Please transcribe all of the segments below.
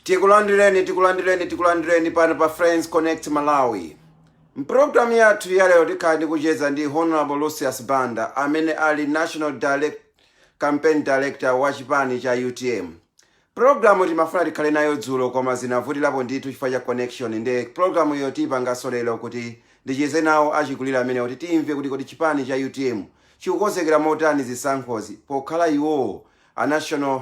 tikulandireni tikulandireni tikulandireni pano pa friends connect malawi mpulogalamu yathu yalero tikhala tikucheza ndi honorable lucius banda amene ali national direc, campaign director wa chipani cha utm pulogalamu timafuna tikhale nayo dzulo koma zinavutirapo ndithu chifukwa cha connection nde pulogalamuyo tiyipanganso lero kuti ndicheze nawo achikulire amenewa kuti timve kuti kodi chipani cha utm chikukonzekera motani zisankhozi pokhala iwowo a national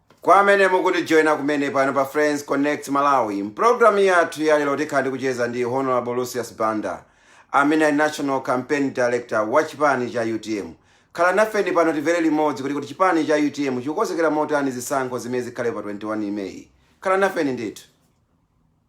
Kwa amene mukutijoina kumene pano pa Friends Connect Malawi, m'programu yathu ya lero tikhala tikucheza ndi Honourable Lucius Banda amene ali National Campaign Director wa chipani cha utm. Khala nafeni pano timvere limodzi kuti kodi chipani cha utm chikukonzekera motani zisankho zimene zikhalepo pa 21 May. Khala nafeni ndithu.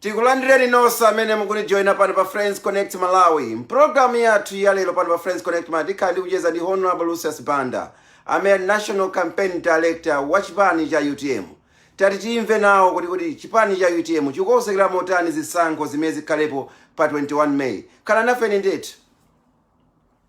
tikulandireni nonse amene mukutijoyina pano pa friends connect malawi mpulogalamu yathu ya lero pano pa friends connect malawi tikhala tikucheza ndi honorable lucius banda amene ali national campaign director wa chipani cha utm tati timve nawo kuti kodi chipani cha utm chikukonzekera motani zisankho zimene zikhalepo pa 21 may khala nafeni ndithu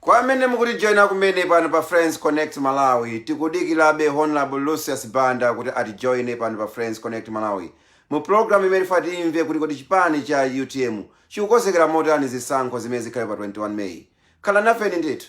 kwa amene mukutijoyina kumene pano pa friends connect malawi tikudikirabe honorable lucius banda kuti atijoyine pano pa friends connect malawi mu programu imene tifuna timve kuti kodi chipani cha utm chikukonzekera motani zisankho zimene zikhale pa 21 meyi khala nafeni ndithu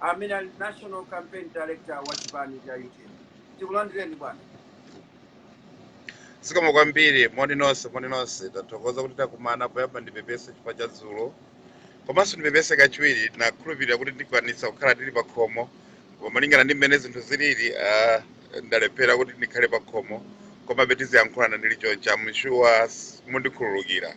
amene ali national campaign director wa chipani cha utm tikulandireni bwana zikomo kwambiri moni nonse moni nonse ndathokoza kuti takumana poyamba ndipepese chifukwa cha dzulo komanso ndipepese kachiwiri ndinakhulupirira kuti ndikwanitsa kukhala ndili pa khomo koma malingana ndi mmene zinthu zilili ah, ndalephera kuti ndikhale pa khomo komabe tiziyankhulana ndili chonchi mshuwa mundikhululukira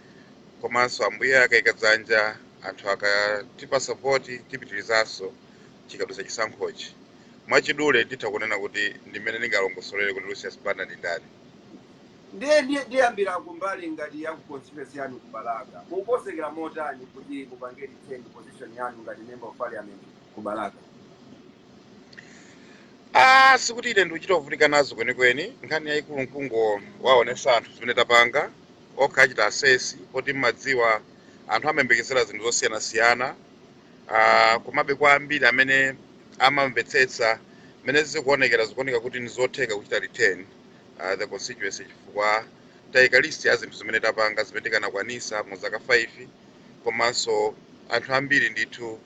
komanso ambuye akaika dzanja anthu akatipasa voti tipitirizanso chikadutsa chisankhochi mwachidule nditha kunena kuti ndi mmene ndingalongosolere kuti lucius banda ndi ndani ndiye ndiyambira kumbali ngati ya ku constituency yanu ku balaka mukukonzekera motani kuti mupange defend position yanu ngati member of parliament ku balaka Ah, sikuti ine ndikuchita kuvutika nazo kwenikweni nkhani yayikulu nkungowaonesa anthu zimene tapanga okha achita assess poti mumadziwa anthu amayembekezera zinthu zosiyanasiyana uh, komabe kwa ambiri amene amamvetsetsa mmene zikuonekera zikuoneka kuti nizotheka kuchita return uh, the constituency chifukwa taika list ya zinthu zimene tapanga zimene tinakwanisa mu zaka 5 komanso anthu ambiri ndithu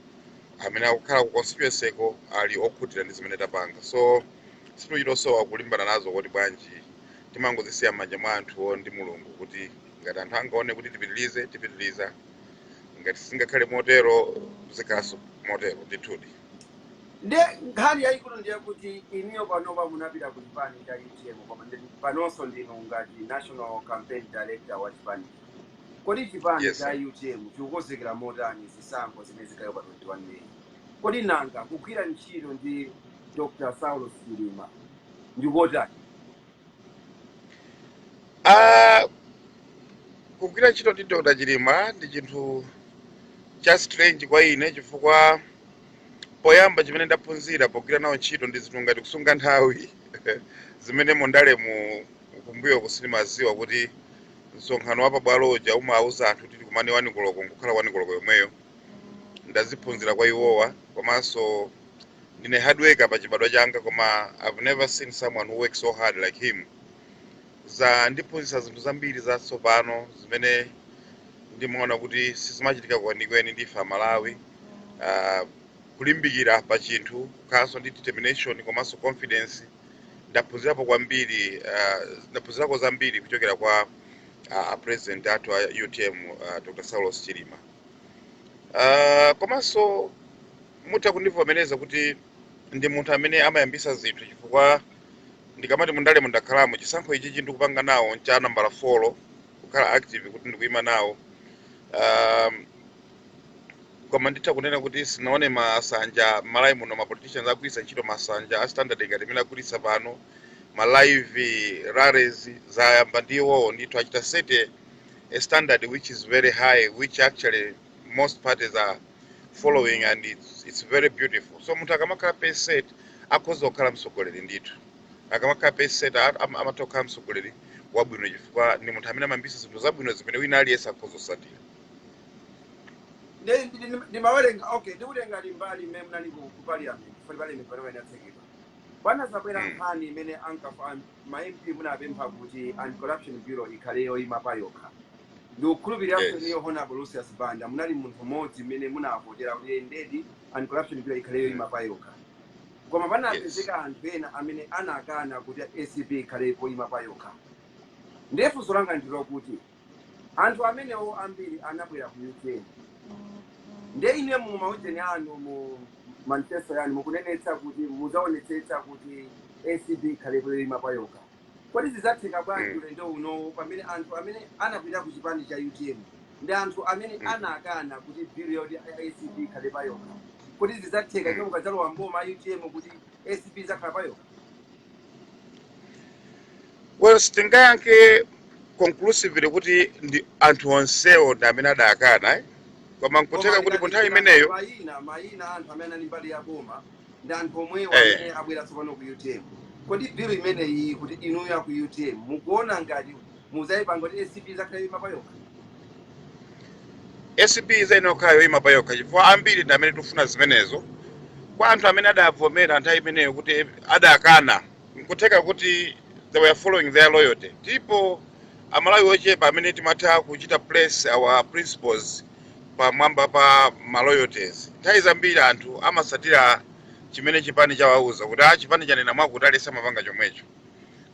amene akukhala ku constituency ko ali okhutira ndi zimene tapanga so sitikuchitosowa kulimbana nazo kuti bwanji timangozisiya m'manja mwa anthuwo ndi mulungu kuti ngati anthu angaone kuti tipitilize tipitiliza ngati singakhale motero zikhalanso motero ndithudi nde nkhani yayikulu ndi yakuti inuyo panopa munapita ku chipani cha utm koma ndi- panonso ndinu ngati national campaign director wa chipani kodi chipani Yes, cha sir. utm chikukonzekera motani zisankho zimene zikhaleko pa 21 meyi kodi nanga kugwira ntchito ndi dr saulos chilima ndi kotani? Ah, kugwira ntchito ndi Dr. Chilima ndi chinthu cha strange kwa ine chifukwa poyamba chimene ndaphunzira pogwira nawo ntchito ndi zinthu ngati kusunga nthawi zimene mundalemu kumbuyoku sindimaziwa kuti msonkhano wa pabwalo uja umawuza anthu kuti tikumane wani koloko nkukhala wani koloko yomweyo ndaziphunzira kwa iwowa komanso ndine hard worker pa chibadwa changa koma I've never seen someone who works so hard like him zandiphunzitsa zinthu zambiri zatsopano zimene ndimaona kuti sizimachitika kwenikweni ndife amalawi uh, kulimbikira pa chinthu kukhalanso ndi determination komanso confidence ndaphunzirapo kwambiri uh, ndaphunzirako zambiri kuchokera kwa apresident athu a utm uh, dr saulos chilima Ah, komanso mutha kundivomereza kuti ndi munthu amene amayambisa zinthu chifukwa ndikamati mundalemu ndakhalamo chisankho ichi chimene ndikupanga nawo ncha nambala 4 kukhala active kuti ndikuyima nawo um, koma nditha kunena kuti sindinaone masanja Malawi muno ma politicians agwiritsa ntchito masanja a standard ngati amene agwiritsa pano ma live rallies zayamba ndi iwowo ndithu achita set a standard which is very high, which actually most parties are following and it's, it's very beautiful. So munthu akamakhala pace setter akhoza kukhala mtsogoleri ndithu. Akamakhala pace setter a- am- amatha kukhala mtsogoleri wabwino chifukwa ndi munthu amene amayambitsa zinthu zabwino zimene wina aliyense akhoza kusatira. Ndi- ndi- ndi- ndimawerenga okay ndikutengani mbali imene munali ku ku parliament for parliament pamene atsekera panazabwera Mm. nkhani imene ankafa ma MP munapempha kuti anti-corruption bureau ikhale yoima payokha. Ndikukhulupirira kuti Yes. inuyo Honorable Lucius Banda munali munthu mmodzi amene munavotera kuti eh, ndedi anti-corruption bureau ikhale Mm. yoima payokha. Koma Yes. panapezeka anthu ena amene anakana kuti ACB ikhale yoima payokha. Ndiye funso langa ndi lokuti Anthu amenewo ambiri anabwera ku UTM. Ndiye ine mu maujani anu, mu manifesto yanu mukunenetsa kuti muzaonetsetsa kuti ACB ikhale yoima payokha. Kodi zizatheka bwanji mm. ulendo unowo pamene anthu amene anabwera ku chipani cha utm ndi anthu amene mm. anakana kuti bill yoti ACB ikhale payokha kodi zizatheka bwanji mm. mukadzalowa mboma utm kuti ACB izakhala payokha? Well, sitingayankhe conclusively kuti ndi anthu onsewo ndi amene adakana eh? koma koma nkutheka kuti ku nthawi tikatengera imeneyo mayina mayina a anthu amene anali mbali ya boma ndi anthu omwewo eh, amene abwera tsopano ku utm kodi bill imeneyi kuti inuyo aku utm mukuona ngati mudzayipanga kuti acb izakhale yoima payokha acb izayenera kukhala yoyima pa yokha chifukwa ambiri ndi amene tikufuna zimenezo kwa anthu amene adavomera nthawi imeneyo kuti adakana nkutheka kuti they were following their loyalty ndipo amalawi ochepa amene timatha kuchita place our principles pamwamba pa ma loyalties nthawi zambiri anthu amasatira chimene chipani chawauza kuti a chipani chanena mwakuti amapanga chomwecho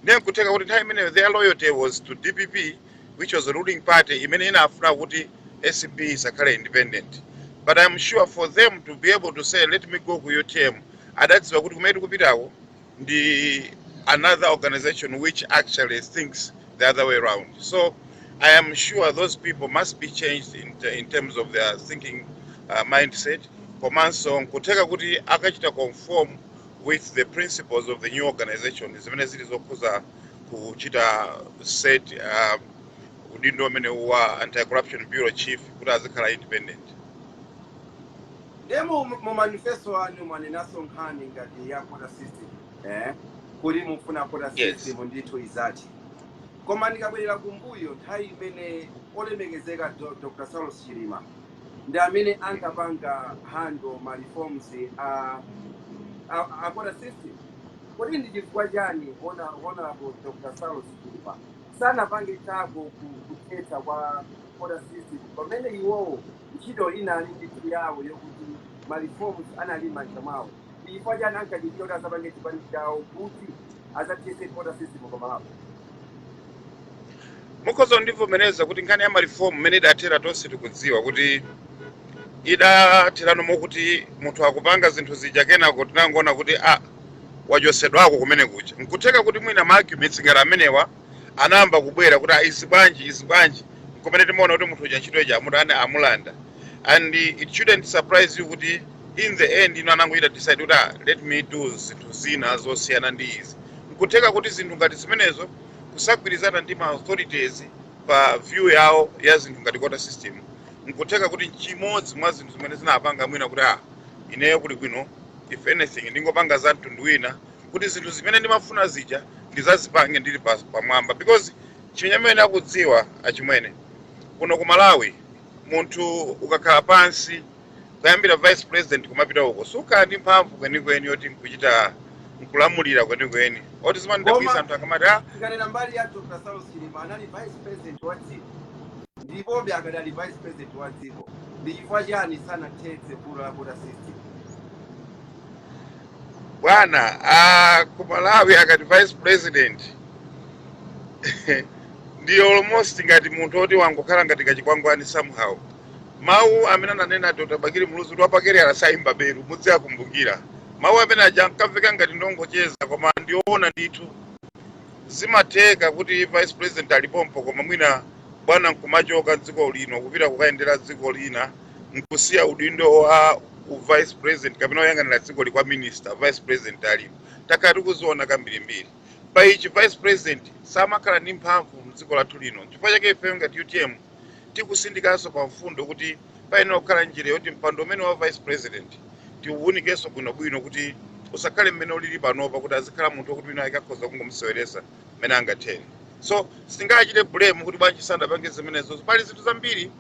ndiye nkutheka kuti nthawi imeneyo their loyalty was to dpp which was the ruling party imene imafuna kuti acb isakhale independent but i'm sure for them to be able to say let me go ku utm adadziwa kuti kumene tikupitako ndi another organization which actually thinks the other way round so i am sure those people must be changed in, te- in terms of their thinking uh, mindset komanso nkutheka kuti akachita conform with the principles of the new organization zimene zili zokhuza kuchita set uh, udindo umene wa anti-corruption bureau chief kuti azikhala independent Nde mu mu manifesto anu mwanenaso nkhani ngati ya quota system eh? kuti mufuna quota Yes. system ndithu izathe. Koma ndikabwerera kumbuyo nthawi imene olemekezeka Do- Dr. Saulos Chilima ndi amene ankapanga handle ma reforms a, a, a quota system. Kodi ndi chifukwa chani Hona- honorable Dr. Saulos Chilima sanapange zako ku- kuthetsa kwa quota system pamene iwowo Ntchito inali ndithu yawo yokuti ma reforms anali mmanja mwawo. Ndi chifukwa chani ankadikira kuti azapange chipani chawo kuti azathese quota system pa Malawi. Mukhoza kundivomereza kuti nkhani ya ma reform mmene idathera tonse tikudziwa kuti idatherano mokuti munthu akupanga zinthu zija kenako tinangoona kuti a ah, wachosedwako kumene kuja. Nkutheka kuti mwina ma arguments ngati amenewa anayamba kubwera kuti "Ah, izi bwanji izi bwanji nkumene timaona kuti munthu uja ntchito ija amulanda and it shouldn't surprise you kuti in the end iwo anangochita decide kuti "Ah, let me do zinthu zina zosiyana ndi izi nkutheka kuti zinthu ngati zimenezo kusagwirizana ndi ma authorities pa view yawo ya zinthu ngati quota system nkutheka kuti nchimodzi mwa zinthu zimene zinapanga mwina kuti ah ineyo kulibwino if anything ndingopanga za mtundu wina kuti zinthu zimene ndimafuna zija ndizazipange ndili pa, pamwamba because chimene mukudziwa achimwene kuno ku Malawi munthu ukakhala pansi kuyambira vice president kumapita uko sukhala ndi mphamvu kwenikweni yoti nkuchita nkulamulira kwenikweni oti zimandidabwitsa anthu akamati ah, tikanena mbali ya dr saulos chilima anali vice president wa dziko ndipobe akadali vice president wa dziko ndi chifukwa chani sanathetse vuto la quota system bwana ah, ku malawi akati vice president ndi almost ngati munthu oti wangokhala ngati kachikwangwani somehow mawu amene ananena dr bakili muluzi kuti wapakaliyala sayimba belu muziwakumbukira mawu amene aja ankamveka ngati nongocheza koma ndi oona ndithu zimatheka kuti vice president alipompo koma mwina bwana nkumachoka dziko lino kupita kukayendera dziko lina nkusiya udindo wa vice president kapena woyang'anira dzikoli kwa minister vice president alipo takhala tikuziona kambirimbiri pa ichi vice president samakhala ndi mphamvu mdziko lathu lino chifukwa chake ife ngati utm tikusindikanso pa mfundo kuti payenera kukhala njira yoti mpando umenewu wa vice president tiuwunikenso bwinobwino kuti usakhale mmene ulili panopa kuti azikhala munthu wokuti wina akakhoza kungomuseweresa mmene angathere so sitingachite blame kuti bwanji sanapange zimenezo pali zinthu zambiri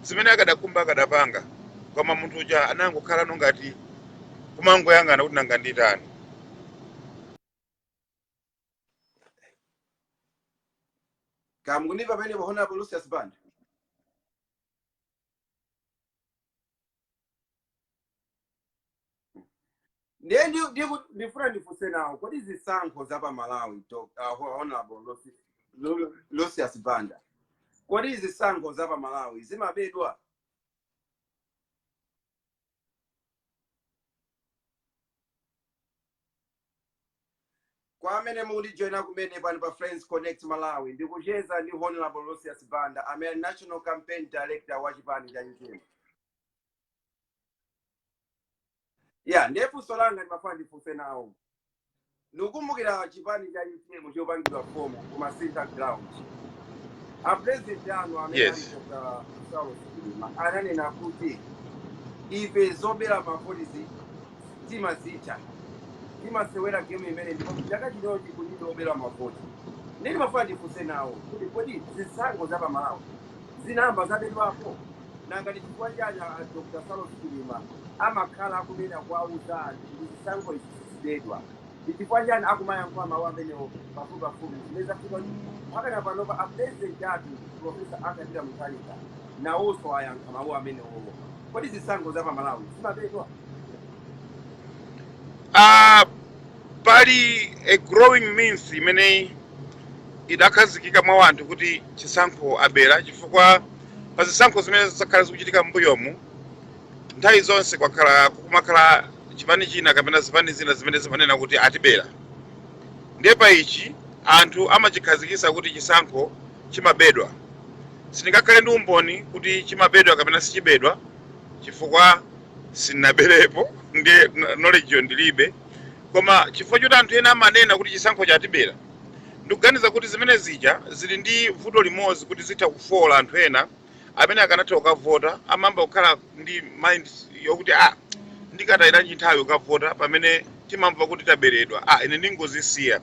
zimene akadakhumba akadapanga koma munthu uja anangokhala no ngati kumangoyang'ana kuti nanga nditani ndakumvani pamenepo honorable lucius band ndiye ndi- ndiku- ndifuna ndifunse nawo kodi zisankho za pa malawi Doc- uh, honorable Lucy- Lu- lucius banda kodi zisankho za pa malawi zimabedwa Kwa amene mukundijoyina kumene pano pa Friends Connect Malawi, ndikucheza ndi Honorable Lucius Banda, amene ali National Campaign Director wa chipani cha UTM. Ya, ndiye funso langa ndimafuna ndifunse nawo. Ndikukumbukira chipani cha UTM chopangidwa fomu ku Masintha Ground. A president anu amene ali Yes. Dr. Saulos Chilima ananena kuti ife zobera mavoti izi timazidziwa timasewera game imene ndipo chaka chinochi kulibe kubera mavoti ndi ndimafuna ndifunse nawo kuti kodi zisankho za pamalawi zinayamba zabedwapo nanga ndi chifukwa chani a dr saulos chilima amakhala akunena kuwauza anthu kuti zisankho izi zizibedwa ndi chifukwa chani akumayankhula mawu amenewo pafupipafupi zimene zafika kuti mpakana panopa a president athu profesa arthur peter mutharika nawonso ayankha mawu amenewowo kodi zisankho za pamalawi zimabedwa Ah, pali a growing myth imene idakhazikika mwa wanthu kuti chisankho abera chifukwa pa zisankho zimene zakhala zikuchitika m'mbuyomu nthawi zonse kwakhala kukumakhala chipani china kapena zipani zina zimene zimanena kuti atibera ndiye pa ichi anthu amachikhazikisa kuti chisankho chimabedwa sindingakhale ndi umboni kuti chimabedwa kapena sichibedwa chifukwa sindinaberepo ndi knowledge yo ndilibe koma chifukwa choti anthu ena amanena kuti chisankho chatibera ndikuganiza kuti zimenezi ija zili ndi vuto limodzi kuti zitha kufoola anthu ena amene akanatha kukavota amayamba kukhala ndi mind yokuti ah ndikatayiranji nthawi kukavota pamene timamva kuti taberedwa ah ine ndingozisiya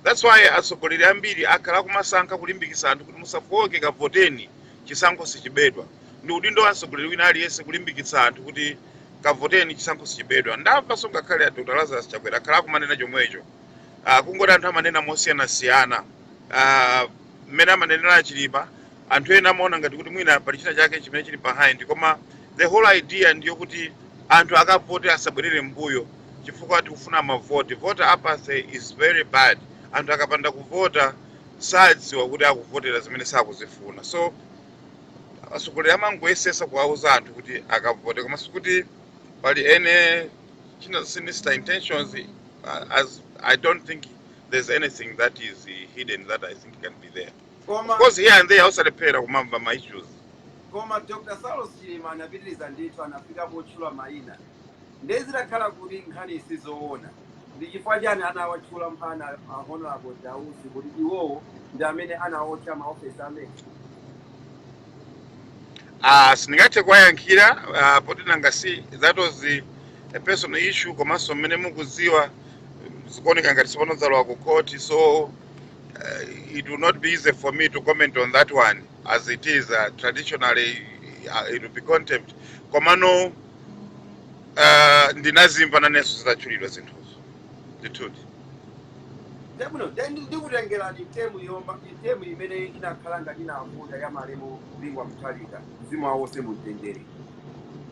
that's why atsogoleri ambiri akhala akumasankha kulimbikitsa anthu kuti musafooke kavoteni chisankho sichibedwa ndi udindo wa mtsogoleri wina aliyense kulimbikitsa anthu kuti kavoteni chisankho sichibedwa ndamvanso ngakhale a dr lazarus chakwera akhala akumanena chomwecho Ah, kungoti anthu amanena mosiyanasiyana Ah, mmene amanenera achilima anthu ena amaona ngati kuti mwina pali china chake chimene chili behind koma the whole idea ndi yokuti anthu akavote asabwerere mbuyo chifukwa tikufuna mavoti voter apathy is very bad anthu akapanda kuvota sadziwa kuti akuvotera zimene sakuzifuna so atsogoleri amangoyesetsa kuwauza anthu kuti akavote koma sikuti pali any sinister intentions uh, as i don't think there's anything that is uh, hidden that i think can be there koma of course here and there sulephera kumamva ma issues koma dr saulos chilima anapitiriza ndithu anafika potchula mayina ndiye zitakhala kuti nkhani si zoona ndi chifukwa chani anawatchula mpaka a honorable dausi kuti iwowo ndi amene anaotcha maofesi a mec Ah, sindingathe kuwayankhira ah, poti nanga si that was a personal issue komanso mmene mukudziwa mm, zikuoneka ngati tsopano zalowa ku court so uh, it will not be easy for me to comment on that one as it is uh, traditionally uh, it will be contempt komano Ah, ndinazimva nanenso zitatchulidwa zinthuzo ndithudi ndi abwino nde ndi- ndikutengerani term yoma term imene inakhala ngati inavuta ya malemu bingwa mutharika mzimu wawo uwuse mumtendere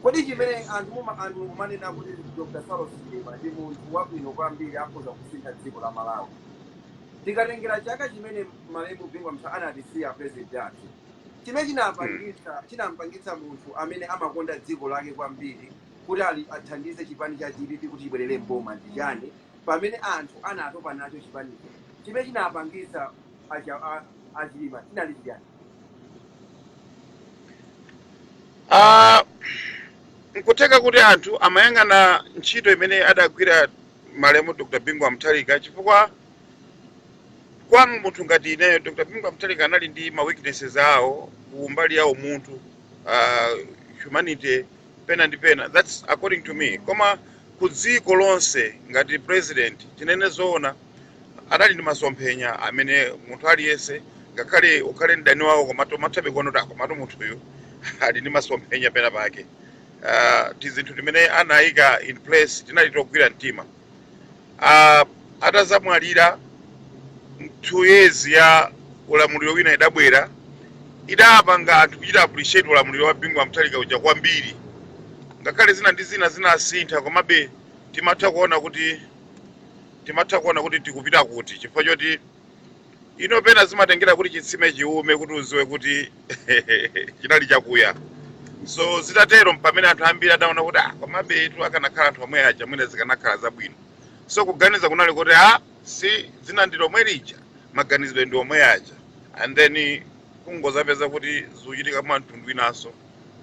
kodi chimene anthu muma anthu mukumanena kuti dr saulos chilima ndi munthu wabwino kwambiri akhoza kusintha dziko la malawi tikatengera chaka chimene malemu bingu wa mtha anatisiya president athu chimene chinapangitsa chinampangitsa munthu amene amakonda dziko lake kwambiri kuti ali athandize chipani cha dpp kuti chibwerere m'boma ndi chani pamene anthu anatopa nacho chipanicho chimene chinapangitsa acha- a- achilima chinali chiyani Ah, nkutheka kuti anthu amayang'ana ntchito imene adagwira malemu dr bingu wa mutharika chifukwa kwa munthu ngati ineyo dr bingu wa mutharika anali ndi ma weaknesses awo ku mbali ya umunthu uh, humanity pena ndi pena that's according to me koma ku dziko lonse ngati president tinene zoona anali ndi masomphenya amene munthu aliyense ngakhale ukhale mdani wawo koma umathabe kuona kuti ah komatu munthuyu ali ndi masomphenya pena pake uh, tizinthu timene anayika in place tinali togwira mtima uh, atazamwalira two years ya ulamuliro wina idabwera idapanga anthu kuchita appreciate ulamuliro wa bingu wa mutharika uja kwambiri ngakhale zina ndi zina zinasintha komabe timatha kuona kuti timatha kuona kuti tikupita kuti chifukwa choti ino pena zimatengera kuti chitsime chiwume kuti udziwe kuti chinali chakuya so zitatero mpamene anthu ambiri adaona kuti ah komabetu akanakhala anthu omwe aja mwina zikanakhala zabwino so kuganiza kunali kuti ah si dzina ndi lomwe lija maganizidwe ndi omwe aja and then kungozapeza kuti zikuchitika mwa mtundu winanso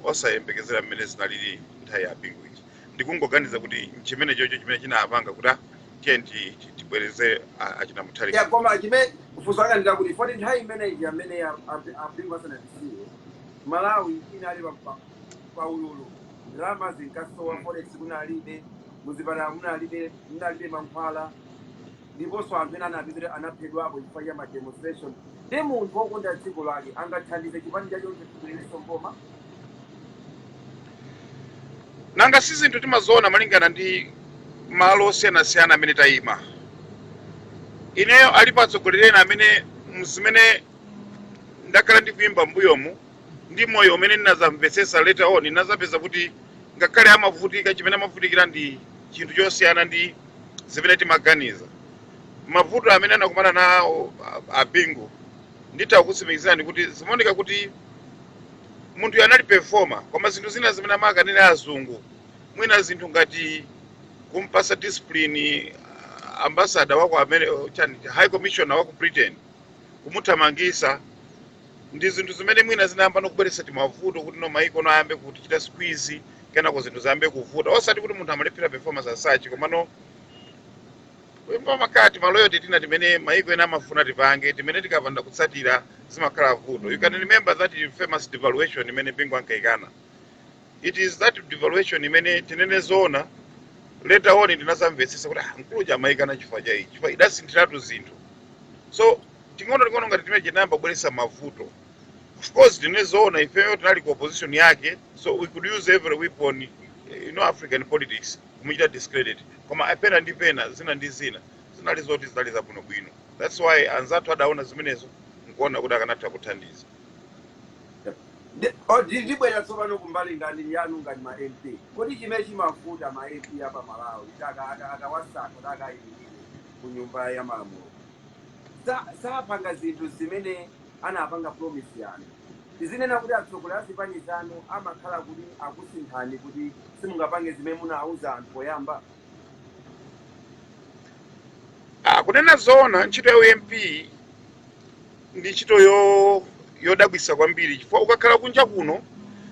osayembekezera mmene zinalili nthawi ya bingu ija ndikungoganiza kuti nchimenechocho chimene chinapanga kuti ah, tiye ti- ti- tibwereze a- achina mutharika ya koma chimene funso langa ndi lakuti poti nthawi imeneyi amene abingu asanatisiye malawi inali pa- pa- pa ululu ndalama zinkasowa forex kunalibe m'zipatala munalibe munalibe mankhwala ndiponso anthu ena anapita kuti anaphedwapo chifukwa cha ma demonstration ndi munthu wokonda dziko lake angathandize chipani chacho kuti chibwererenso m'boma nanga si zinthu timaziona malingana ndi malo osiyanasiyana amene tayima ineyo alipo atsogoleri ena amene mzimene ndakhala ndikuyimba mbuyomu ndi moyo umene ndinadzamvetsetsa later on ndinadzapeza kuti ngakhale amavutika chimene amavutikira ndi chinthu chosiyana ndi zimene timaganiza. Mavuto amene anakumana nawo a- a Bingu nditha kukutsimikizirani kuti zimaoneka kuti munthuyu anali performer koma zinthu zina zimene amakanira azungu mwina zinthu ngati kumpasa discipline ah, ambassador wako amene uja high commissioner wa ku britain kumuthamangisa ndi zinthu zimene mwina zinayamba nokubweretsa timavuto kuti no maiko no ayambe kutichita squeeze kenako zinthu ziyambe kuvuta osati kuti munthu amalephera performance as such komano kumakhala timalo toti tina timene maiko ena amafuna tipange timene tikapanda kutsatira zimakhala vuto you can remember that famous devaluation imene bingu ankaikana It is that devaluation imene tinene zoona later on ndinazamvetsetsa kuti ah, mkulu uja amayikana chifukwa cha ichi chifukwa idasinthiratu zinthu so ting'ono ting'ono ngati timeneti tinayamba kubweretsa mavuto of course tinene zoona ifeyo tinali ku opposition yake so we could use every weapon eh, you know african politics kumuchita discredit koma apa ndi pena zina ndi zina zinali zoti zinali zabwinobwino that's why anzathu adaona zimenezo nkuona kuti akanatha kuthandiza Ndi- o, ndi- ndibwera tsopano kumbali ngati yanu ngati ma mp kodi chimene chimavuta ma mp a pa malawi kuti aka- aka- akawasankha kuti akayimirire ku nyumba ya malamulo Sa- sapanga zinthu zimene anapanga promise kapena tizinena kuti atsogoleri a zipani zanu amakhala kuti akusinthani kuti simungapange zimene munawuza anthu poyamba Ah, kunena zoona ntchito ya ump ndi ntchito yodabwitsa kwambiri chifukwa ukakhala kunja kuno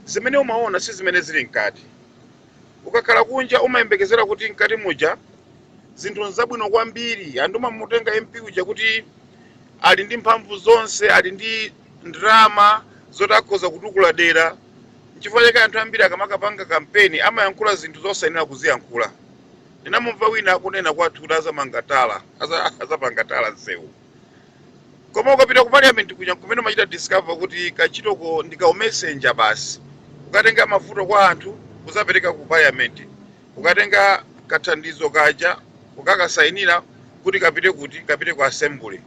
zimene umaona si zimene zili mkati ukakhala kunja umayembekezera kuti mkati muja zinthu nzabwino kwambiri anthu amamutenga mp uja kuti ali ndi mphamvu zonse ali ndi ndalama zoti akhoza kutukula dera nchifukwa chake anthu ambiri akamakapanga kampeni amayankhula zinthu zosayenera kuziyankhula ndinamumva wina akunena kwathu kuti azamanga tala aza- azapanga tala nsewu koma ukapita ku parliament kuja nkumene umachita discover kuti kantchitoko ndi ka umessenger basi kukatenga mavuto kwa anthu kuzapereka ku parliament kukatenga kathandizo kaja ukakasainira kuti kapite kuti kapite ku assembly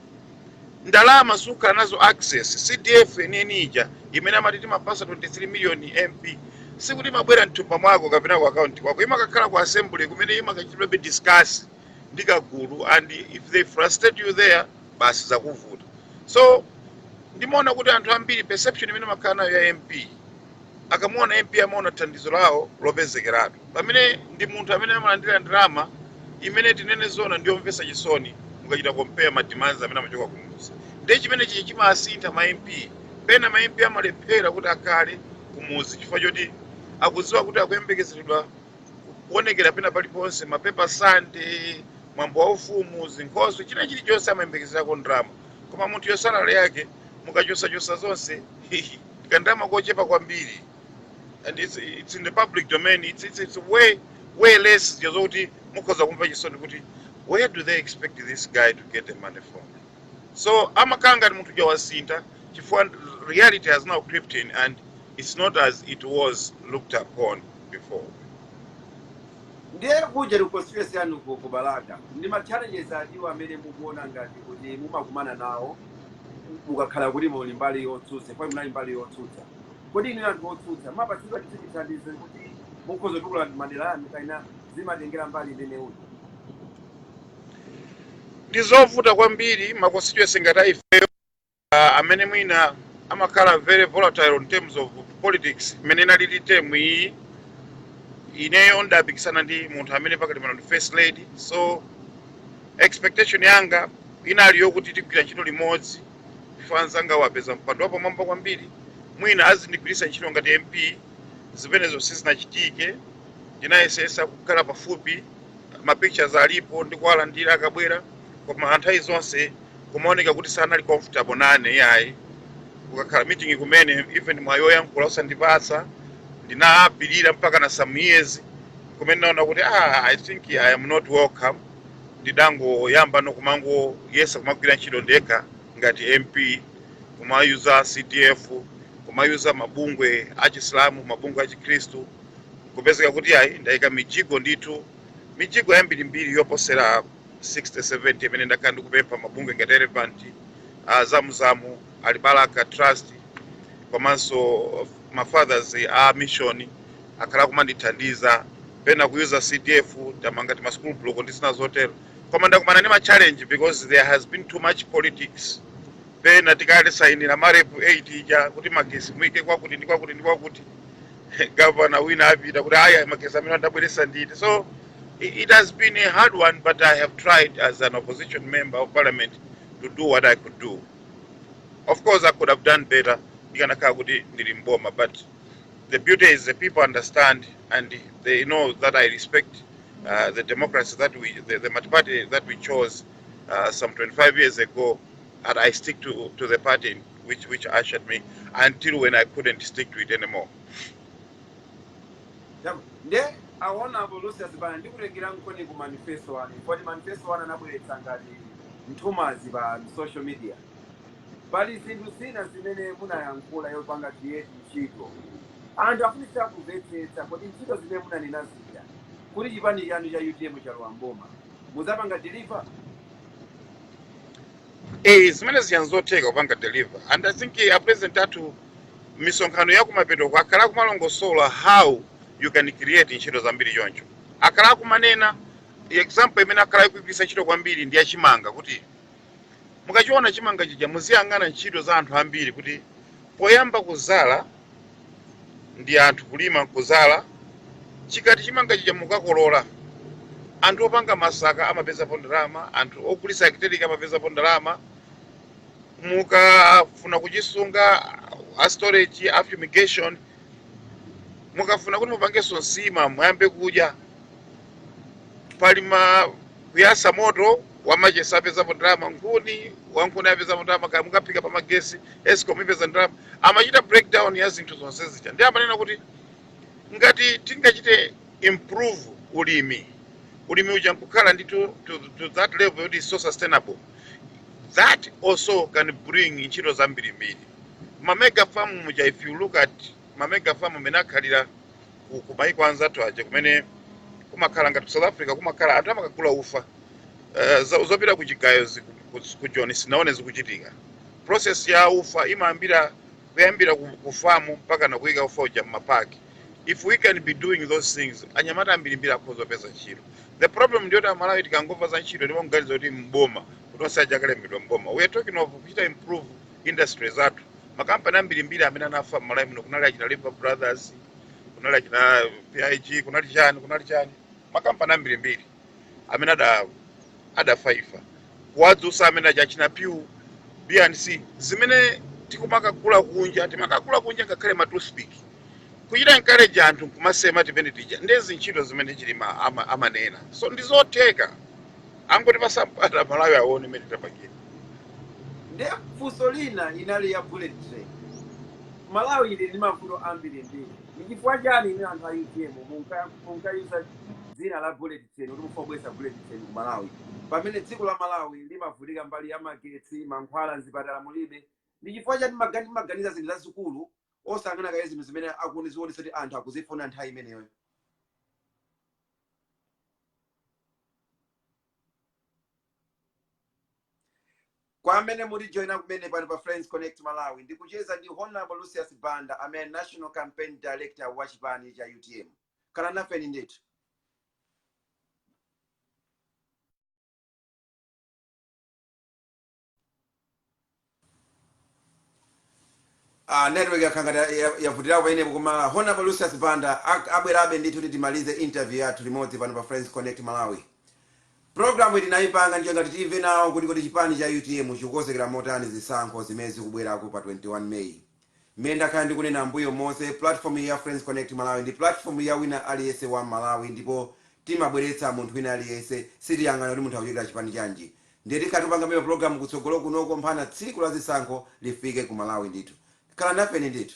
ndalama sukhala nazo access cdf yeniyeni ija imene amati timapatsa 23 million mp sikuti imabwera mthumba mwako kapena ku akaunti kwako imakakhala ku assembly kumene imakachitidwabe discuss ndi kagulu and if they frustrate you there basi zakuvuta so ndimaona kuti anthu ambiri perception imene amakhala nayo ya mp akamuona mp amaona thandizo lawo lopezekeratu pamene ndi munthu amene amalandira ndalama imene tinene zoona ndiyomvetsa chisoni mukachita compare ma demands amene amachoka kumuzi ndiye chimenechichi chimasintha ma mp pena ma mp amalephera kuti akhale kumuzi chifukwa choti akudziwa kuti akuyembekezeredwa kuonekera pena paliponse mapepa sande mwambo wa ufumu zinkhoswe china chilichonse amayembekezerako ndalama koma munthu yo salary yake mukachosachosa zonse kandalama kochepa kwambiri and it's, it's in the public domain it's, it's, it's way, way less zokuti mukhoza kumva chisoni kuti where do they expect this guy to get the money from so amakhala ngati munthu uja wasintha chifukwa reality has now crept in and it's not as it was looked upon before ndiye kuja ndi constituency yanu ku ku balaka ndi ma challenges atiwo amene mukuona ngati kuti mumakumana nawo mukakhala kuti muli mbali yotsutsa munali mbali yotsutsa kodi inu anthu otsutsa mumapatsidwa chithu chithandizo kuti mukhoza kutukula madera anu kaina zimatengera mbali imene uli ndi zovuta kwambiri ma constituency ngati aifeyo uh, amene mwina amakhala very volatile in terms of politics imene inalili term iyi ineyo ndidapikisana ndi munthu amene pakali pano ndi first lady so expectation yanga inali yokuti tigwira ntchito limodzi chifukwa anzanga wapeza mpando wapamwamba kwambiri mwina azindigwiritsa ntchito ngati mp zimenezo sizinachitike ndinayesesa kukhala pafupi ma pictures alipo ndikuwalandira akabwera koma nthawi zonse kumaoneka kuti sanali comfortable nane yayi kukakhala ku meeting kumene even mwayi woyankhula osandipatsa ndinapirira mpaka na some years kumene ndinaona kuti ah, i think i am not welcome ndidangoyamba no kumangoyesa kumagwira ntchito ndekha ngati mp kumayuza cdf kumayuza mabungwe achisilamu mabungwe achikhristu Nkupezeka kuti ayi, ndaika mijigo ndithu, mijigo yambirimbiri yoposera 60, 70 imene ndakhala ndikupempha mabungwe ngati Elephant, a Zamuzamu, Alibalaka Trust komanso ma Fathers a Mission akhala akumandithandiza. Pena kuyuza CDF tamanga tima school block ndi zina zotero. Koma ndakumana ndi ma challenge because there has been too much politics. Pena tikasainira MAREP 8 ija kuti magesi muike kwakuti ndi kwakuti ndi kwakuti. gavana wina apita kuti ayi magesi amene adabweretsa ndine so i- it has been a hard one but i have tried as an opposition member of parliament to do what i could do of course i could have done better ndikanakhala kuti ndili mboma but the beauty is the people understand and they know that i respect uh, the democracy that we the, the multi-party that we chose uh, some 25 years ago and i stick to, to the party which which ushered me until when I couldn't stick to it anymore. Chama. Nde pamenepo a Lucius Banda ndikutengereni ku manifesto wanu. Kodi manifesto wanu anabweretsa ngati nthumanzi pa social media. Pali zinthu zina zimene munayankhula zakupanga create ntchito. Anthu akufunitsa kumvetsetsa kodi ntchito zimene munanena zija kuti chipani chanu cha UTM chikalowa m'boma. Muzapanga deliver? Eh, zimene zijazi nzotheka kupanga deliver and i think eh, a president athu misonkhano ya kumapetoko akhala akumalongosola how you can create ntchito zambiri choncho akhala akumanena example imene akhala ikugwiritsa ntchito kwambiri ndi yachimanga kuti mukachiona chimanga chija muziyang'ana ntchito za anthu ambiri kuti poyamba kuzala ndi anthu kulima nkuzala chikati chimanga chija mukakolola anthu opanga masaka amapezapo ndalama anthu ogulisa akiteliki amapezapo ndalama mukafuna kuchisunga a storage a fumigation mukafuna kuti mupange nsima muyambe kudya pali ma kuyasa moto wamachesi apezapo ndalama nkhuni wankhuni apezapo ndalama kaya mukaphika pa magesi escom ipeza ndalama amachita breakdown ya zinthu zonse zija ndi amanena kuti ngati tingachite improve ulimi ulimi uja nkukhala to, to, to that level yoti is so sustainable that also can bring ntchito zambirimbiri mamega farm muja if you look at mamega farm amene akhalira ku, ku maiko anzathu aja kumene kumakhala ngati ku south africa kumakhala anthu amakagula ufa uh, zo- zopita ku chigayo zi- ku- ku- ku joni sindinaone zikuchitika process ya ufa imayambira kuyambira ku, ku famu mpakana kuyika ufa uja mmapaki if we can be doing those things anyamata ambirimbiri akhoza kupeza ntchito the problem ndiyoti amalawi tikangomva za ntchito ndiye timaganiza kuti mboma kuti onse aja akalembedwa mboma we are talking of kuchita improve industry zathu makampani ambirimbiri amene anafa mmalawi muno kunali achina Lever brothers kunali achina pig kunali chani kunali chani makampani ambirimbiri amene ada adafa ifa kuwadzutsa amene aja achina pew bnc zimene tikumakagula kunja timakagula kunja ngakhale ma toothpick kuchita encourage anthu nkumasema timene tija ndezi ntchito zimene chilima ama, amanena so ndizotheka angoti masapota amalawi aone mmene tapangira nde funso lina inali ya bullet train malawi ili ndi mavuto ambiri mbiri ndi chifukwa chani inu anthu a utm munka- munkayuza dzina la bullet train kuti mufuna kubweretsa bullet train ku malawi pamene dziko la malawi limavutika mbali ya magetsi mankhwala mzipatala mulibe ndi chifukwa chani magani timaganiza zinthu zazikulu osayangana kaye zinthu zimene zikuonesa kuti anthu akuzifuna nthawi imeneyo kwa amene mwatijoyina kumene pano pa friends connect malawi ndikucheza ndi honorable lucius banda amene ndi national campaign director wa chipani cha utm khalani nafe ndithu Ah, network yakhala ngati ya- ya- yavutirako pamenepo koma honorable lucius banda ak- abwerabe ndithu kuti timalize interview yathu limodzi pano pa friends connect malawi programu iyi tinayipanga ndi cholinga choti timve nawo kuti kodi chipani cha utm chikukonzekera motani zisankho zimene zikubwerako pa 21 may Mmene ndakhala ndikunena m'mbuyo monse, pulatifomuyi ya Friends Connect Malawi ndi pulatifomu ya wina aliyense Mmalawi ndipo timabweretsa munthu wina aliyense, sitiyang'ana kuti munthu akuchokera chipani chanji. Ndiye tikhala tikupangabe mapulogalamu kutsogolo kunoko mpaka tsiku la zisankho lifike ku Malawi ndithu. Khala nafeni ndithu.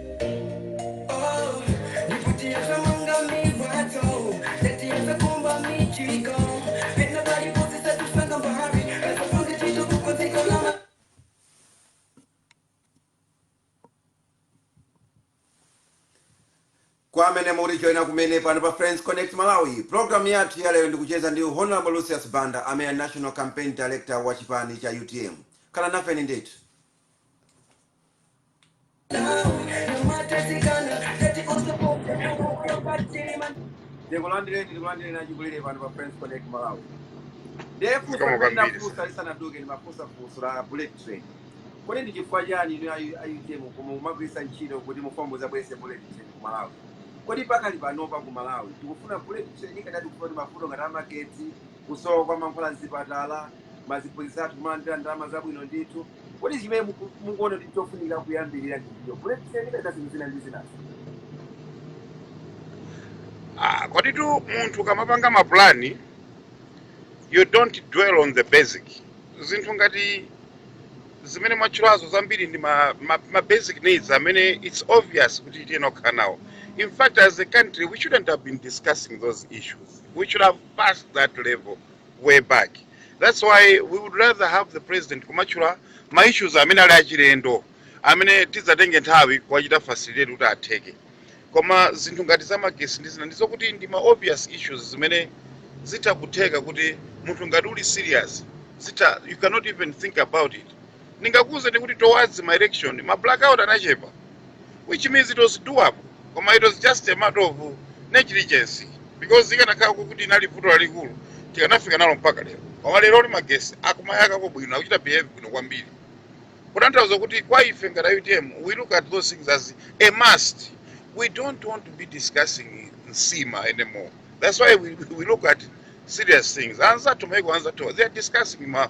kwa amene muli joina kumene pano pa friends connect malawi programu yathu ya lero ndikucheza ndi honorable lucius banda amene ali national campaign director wa chipani cha utm khala nafeni ndithu ndikulandireni ndikulandireni achikulire pano pa friends connect malawi ndefunsa Kama limene kwambiri ndafunsa lisanaduke ndimafunsa funso la bullet train kodi ndi chifukwa chani inu ayu- ayutm koma mumagwiritsa ntchito kuti mudzabweretsa bullet train ku malawi kodi pakali panopa ku malawi tikufuna bullet train kapena tikufuna kuti mavuto ngati amagetsi kusowa kwa mankhwala mzipatala maziphunzitsa athu kumalandira ndalama zabwino ndithu kodi chimene muku- mukuona kuti chofunika kuyambirira ndi chani bullet train kapena zinthu zina ndi zinazo Ah, koditu munthu ukamapanga mapulani you don't dwell on the basic zinthu ngati zimene mwatchulazo zambiri ndi ma, ma, ma basic needs amene it's obvious kuti tiyenera kukhala nawo in fact as a country we shouldn't have been discussing those issues we should have passed that level way back that's why we would rather have the president kumatchula ma issues amene ali achilendo amene tidzatenge nthawi kuwachita facilitate kuti atheke koma zinthu ngati za magesi ndi zina ndizokuti ndi ma obvious issues zimene zitha kutheka kuti munthu ngati uli serious zitha you cannot even think about it ndingakuuzeni kuti towards ma election ma blackout anachepa which means it was doable koma it was just a matter of negligence because ikanakhala kuti inali vuto lalikulu tikanafika nalo mpaka lero koma leroli magesi akumayakako bwino akuchita behave bwino kwambiri kutanthauza kuti kwa ife ngati a utm we look at those things as a must we don't want to be discussing nsima anymore that's why we, we look at serious things anzathu maiko anzathu they are discussing ma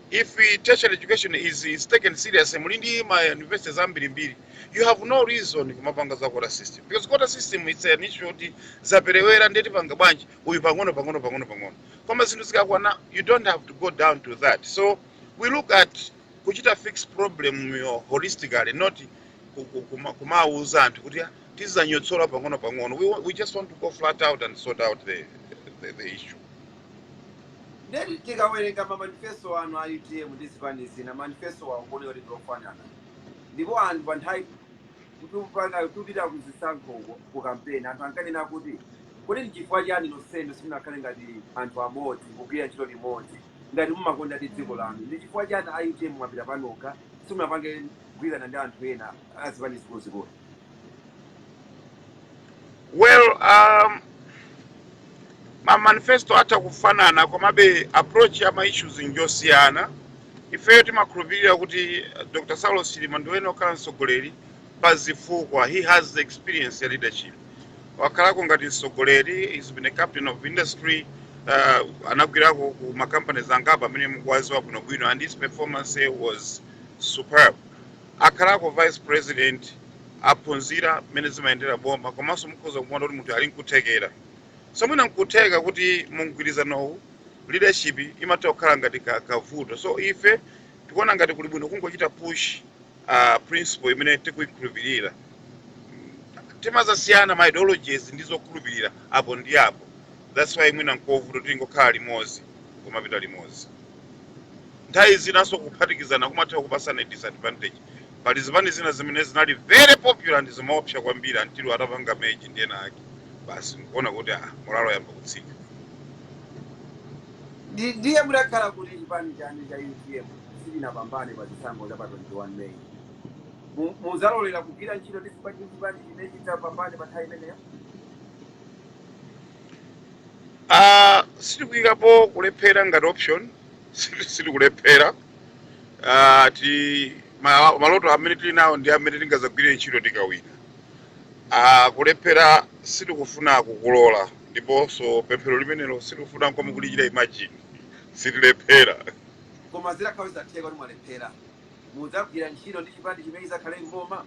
If tertiary education is, is taken seriously muli ndi ma universities ambirimbiri you have no reason kumapanga za quota system because quota system it's an issue yoti zaperewera ndiye tipanga bwanji uyu pang'ono pang'ono pang'ono pang'ono koma zinthu zikakwana you don't have to go down to that so we look at kuchita fix problem yo holistically not ku- ku- kuma- kumawuza anthu kuti "Ah, tizanyotsola pang'ono pang'ono we, wa- we just want to go flat out and sort out the, the, the issue Nde tikawerenga ma manifesto anu a utm ndi zipani zina manifestowa akuoneka kuti ndi ofanana ndipo anthu pa nthawi timapanga timapita ku zisankho uko ku kampeni anthu ankanena kuti kodi ndi chifukwa chiyani nonsenu simunakhale ngati anthu amodzi kugwira ntchito limodzi ngati mumakondadi dziko lanu ndi chifukwa chiyani a utm mwapita panokha simunapange mgwirizano ndi anthu ena a zipani zikuluzikulu well um, ma manifesto atha kufanana komabe approach ya ma issues njosiyana ifeyo timakhulupirira kuti eh, dr saulos chilima ndi amene okhala mtsogoleri pa zifukwa he has the experience ya leadership wakhalako ngati mtsogoleri he's been a captain of industry uh, anagwirako ku makampani angapo amene mukuwaziwa bwinobwino and his performance was superb akhalako vice president aphunzira mmene zimayendera boma komanso mukhoza kumuona kuti munthu ali nkuthekera so mwina nkutheka kuti mu mgwirizanowu leadership imatha kukhala ngati ka- kavuto so ife tikuona ngati kuli bwino kungochita push uh, principle imene tikuyikhulupirira timazasiyana ma ideologies ndi zokhulupirira apo ndi apo that's why mwina nkovuta kungokhala limodzi kumapita limodzi nthawi zinanso kuphatikizana kumatha kupasana disadvantage pali zipani zina zimene zinali very popular ndi zimaopsa kwambiri until atapanga merge ndi ena ake basi nkuona kuti ah, morale yayamba kutsika Ndi- ndiye mutakhala kuti chipani chanu cha utm sichinapambane pa chisankho cha pa 21 may Mu- muzalolera kugwira ntchito ndi chipani ndi chipani chimene chitapambane pa nthawi imeneyo Ah, sitikuyikapo kulephera ngati option Siti- sitikulephera Ah, ti ma- maloto amene tili nawo ndi amene tingazagwirire ntchito tikawina Ah, kulephera sitikufuna kukulola ndiponso pemphero limenelo sitikufuna nkomwe kulichita ineyo sitilephera koma zitakhala zatheka kuti mwalephera mudzagwira ntchito ndi chipani chimene chizakhale mboma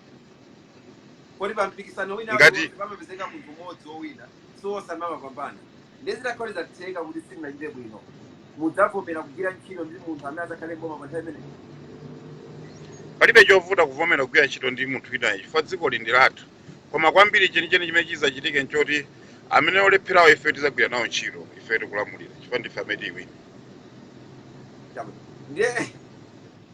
kodi pa mpikisano wina Ngati- uliwonse pamapezeka munthu mmodzi wowina si onse amapambana ndiye zitakhala kuti zatheka kuti simunachite bwino mudzavomera kugwira ntchito ndi munthu amene adzakhale m'boma pa nthawi imeneyo palibe chovuta kuvomera kugwira ntchito ndi munthu winayo chifukwa dzikoli ndi lathu koma kwambiri chenicheni chimene chidzachitike nchoti amene olepherawo ife tidzagwira nawo ntchito ife tikulamulira chifukwa ndife amene tiwina. Chabwino. ndiye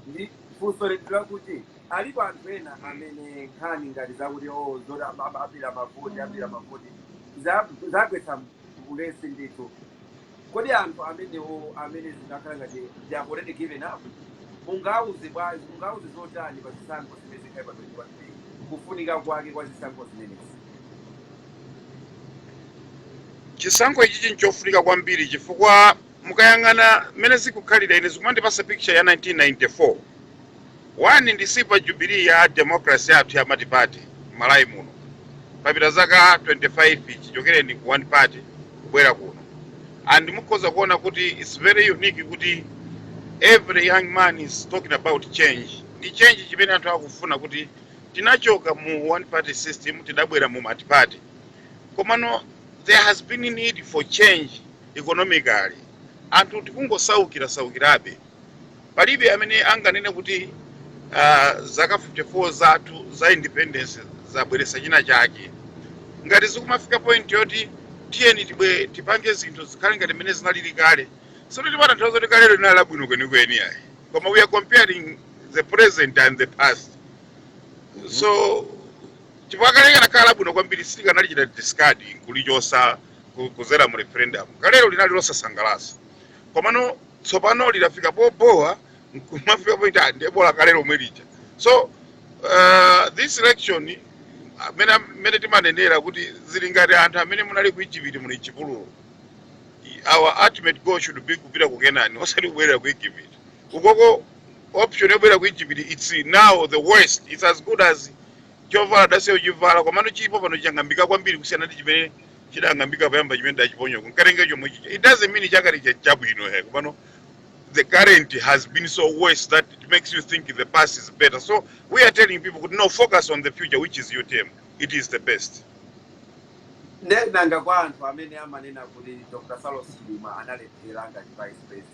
ndi funso leti lakuti Alipo anthu ena amene nkhani ngati zakuti oh zoti am- am- abera mavoti abera mavoti za- zagwetsa m- ulesi ndithu. Kodi anthu amenewo amene zikukhala ngati they have already given up mungauze bwanji mungauze zotani pa zisankho zimene zikhale pa 21 May kufunika kwake kwa zisankho zimenezi? chisankho ichichi nchofunika kwambiri chifukwa Mukayang'ana mmene zikukhalira ine zikumandipasa picture ya 1994. One ndi silver jubilee ya democracy yathu ya multiparty m'Malawi muno. Papita zaka 25 chichokereni ku one party kubwera kuno. And mukhoza kuona kuti it's very unique kuti every young man is talking about change. Ndi change chimene anthu akufuna kuti tinachoka mu one party system tidabwera mu multiparty. Komano there has been need for change economically anthu tikungosaukirasaukirabe palibe amene anganene kuti uh, zaka 54 zathu za independence zabweretsa china chake ngati zikumafika point yoti tiyeni tibwe- tipange zinthu zikhale ngati mmene zinalili kale sikuti timatanthauza kuti kalero linali labwino kwenikweni ayi koma we are comparing the present and the past so chifukwa kale kanakhala labwino kwambiri sitikanalichita discard kulichosa ku- kudzera mu referendum kalero linali losasangalatsa komano tsopano lidafika pobowa nkumafika poti bola kale lomwe lija so uh, this election mmene timanenera kuti zili ngati anthu amene munali ku Ijipiti muli chipululu our ultimate goal should be kupita ku kenani osati kubwerera ku egypt ukoko option yobwerera ku egypt it's now the worst it's as good as chovala udasiya kuchivala komano chilipo pano chang'ambika kwambiri kusiyana ndi chimene chidang'ambika poyamba chimene ndachiponya koma nkatenge chomwe chija it doesn't mean chakale cha- chabwino he kupano the current has been so worse that it makes you think the past is better so we are telling people kuti no focus on the future which is utm it is the best nde nanga kwa anthu amene amanena kuti dr saulos chilima analephera ngati vice president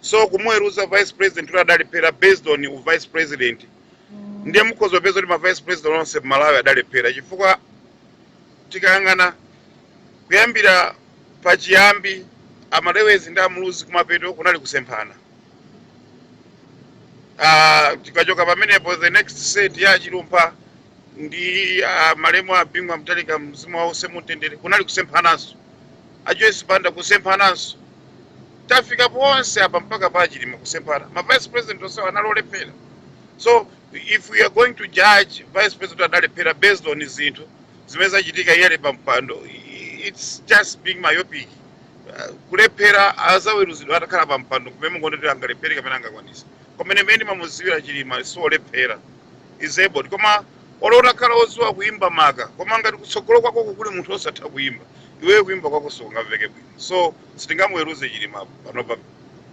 so kumuweruza vice president kuti adalephera based on u vice president ndiye mukhoza kupeza kuti ma vice president onse m'malawi adalephera chifukwa tikayang'ana kuyambira pachiyambi amalewezi ndi amuluzi kumapeto kunali kusemphana Ah, tikachoka pamenepo the next set ya chilumpha ndi ah, malemu a bingu wa mutharika mzimu wawo uuse mumtendere kunali kusemphananso ajoyce banda kusemphananso tafikapo onse apa mpaka pa chilima kusemphana ma vice president onsewo anali olephera so if we are going to judge vice president adalephera based on zinthu zimene zachitika iye ali pa mpando i- it's just being myopic Uh, kulephera azaweruzidwa atakhala pa mpando kumene mungoti angalephere kapena angakwanise koma ine mmene ndimamuziwira chilima siolephera he's able koma olo utakhala oziwa kuimba maka koma ngati kutsogolo kwako kuli munthu osatha kuimba iweyo kuimba kwako sikungamveke bwino so sitingamuweruze chilima panopa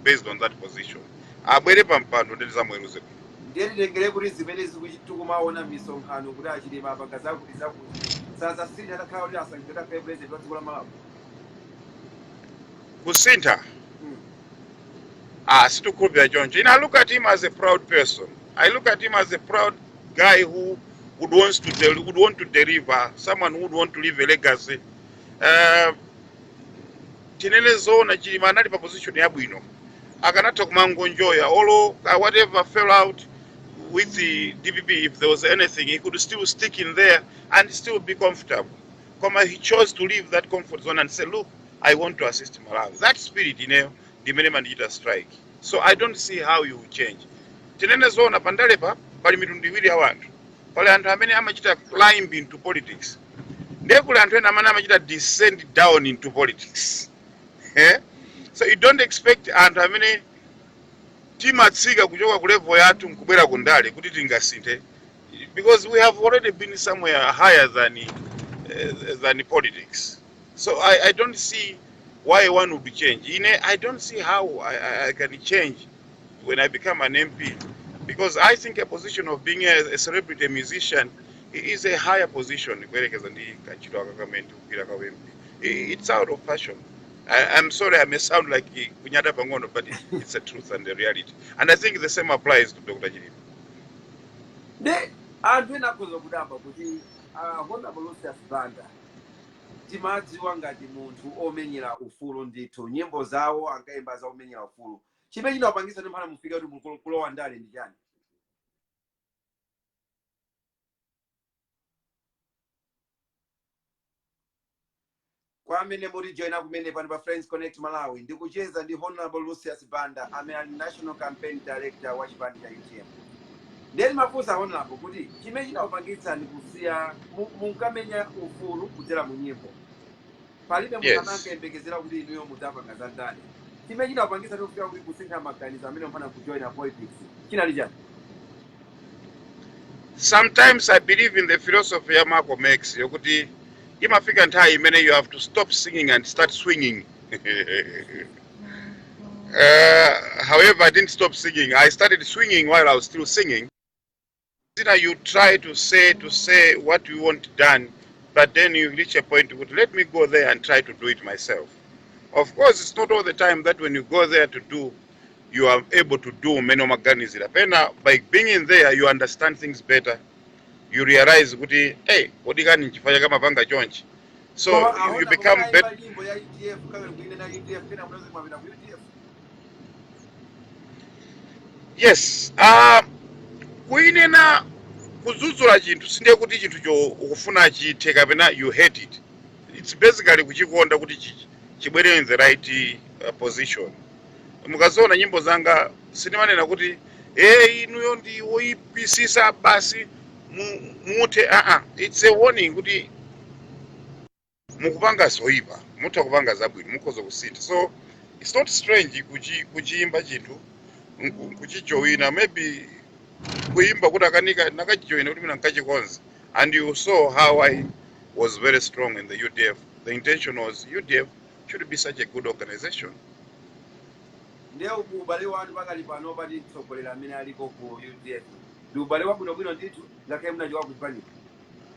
based on that position abwere pa mpando nde tizamuweruze bwino ndiye titengere kuti zimene zikuchi- tikumaona m'misonkhano kuti achilima apanga zakuti zakuti sazasintha atakhala kuti asankhidwe atakhala president wa dziko la malawi kusintha Mm. ah sindikukhulupirira choncho ine i look at him as a proud person i look at him as a proud guy who would wants to del- would want to deliver someone who would want to leave a legacy uh, tinene zoona chilima anali pa position yabwino akanatha kumangonjoya olo uh, whatever fell out with the dpp if there was anything he could still stick in there and still be comfortable koma he chose to leave that comfort zone and say look i want to assist malawi that spirit ineyo ndimene imandichita strike so i don't see how he will change tinene zoona pandalepa pali mitundu iwiri ya anthu pali anthu amene amachita climb into politics ndiye kuli anthu ena amene amachita descend down into politics eh? so you don't expect anthu amene timatsika kuchoka ku level yathu nkubwera ku ndale kuti tingasinthe because we have already been somewhere higher than, uh, than politics so I, i don't see why one would change ine i don't see how i, I, I can change when I became an MP because I think a position of being a, a celebrity a musician is a higher position kuyerekeza ndi kantchito aka kamene ndikugwira ka MP. It's out of passion. I, I'm sorry I may sound like kunyada pang'ono but it's the truth and a reality. And I think the same applies to Dr. Chilima. ndi anthu ena akhoza kudabwa kuti ah, honorable lucius banda timadziwa ngati munthu omenyera ufulu ndithu nyimbo zawo ankayimba za kumenyera ufulu chimene chinakupangitsani kuti mphana mufika kuti mukulo- kulowa ndale ndi chani kwa amene mukutijoina kumene pano pa friends connect malawi ndikucheza ndi honorable lucius banda amene ali national campaign director wa chipani cha utm nde nimafunsa honorable kuti chimene chinakupangitsani kusiya mu- munkamenya ufulu kudzera mu nyimbo palibe munthu amene Yes. ankayembekezera kuti inuyo mudzapanga za ndale chimene chinapangitsa kufika kuti kusintha maganizo mpaka mpakana kujoina politics chinali chani sometimes i believe in the philosophy ya malcolm x yokuti imafika nthawi imene you have to stop singing and start swinging uh, however i didn't stop singing i started swinging while i was still singing zina you try to say to say what you want done but then you reach a point kuti let me go there and try to do it myself of course it's not all the time that when you go there to do you are able to do umene umaganizira pena by being in there you understand things better you realize kuti hey kodi kani nchifukwa chake amapanga chonchi so koma you, you aona become kuona better imba nyimbo ya udf kawiri kuinena udf ena kunazimapita ku udf yes uh, kuchinena kudzudzula chinthu sindiye kuti chinthucho ukufuna chithe kapena you hate it it's basically kuchikonda kuti chi- chibwere in the right uh, position mukaziwona nyimbo zanga sindimanena kuti e inuyo ndi oyipisisa basi mu- muthe aa it's a warning kuti mukupanga zoipa mutha kupanga zabwino mukhoza kusintha so it's not strange kuchi, kuchiimba chinthu nku- kuchijowina maybe kuimba kutakanika ndakachijoyina kuti mwina nkachikonze and you saw how i was very strong in the udf the intention was udf should be such a good organization ndiye kuti ubale wanu pakali pano pa mtsogoleri amene aliko ku udf ndi ubale wabwinobwino ndithu ngakhale munachoka kuchipaniko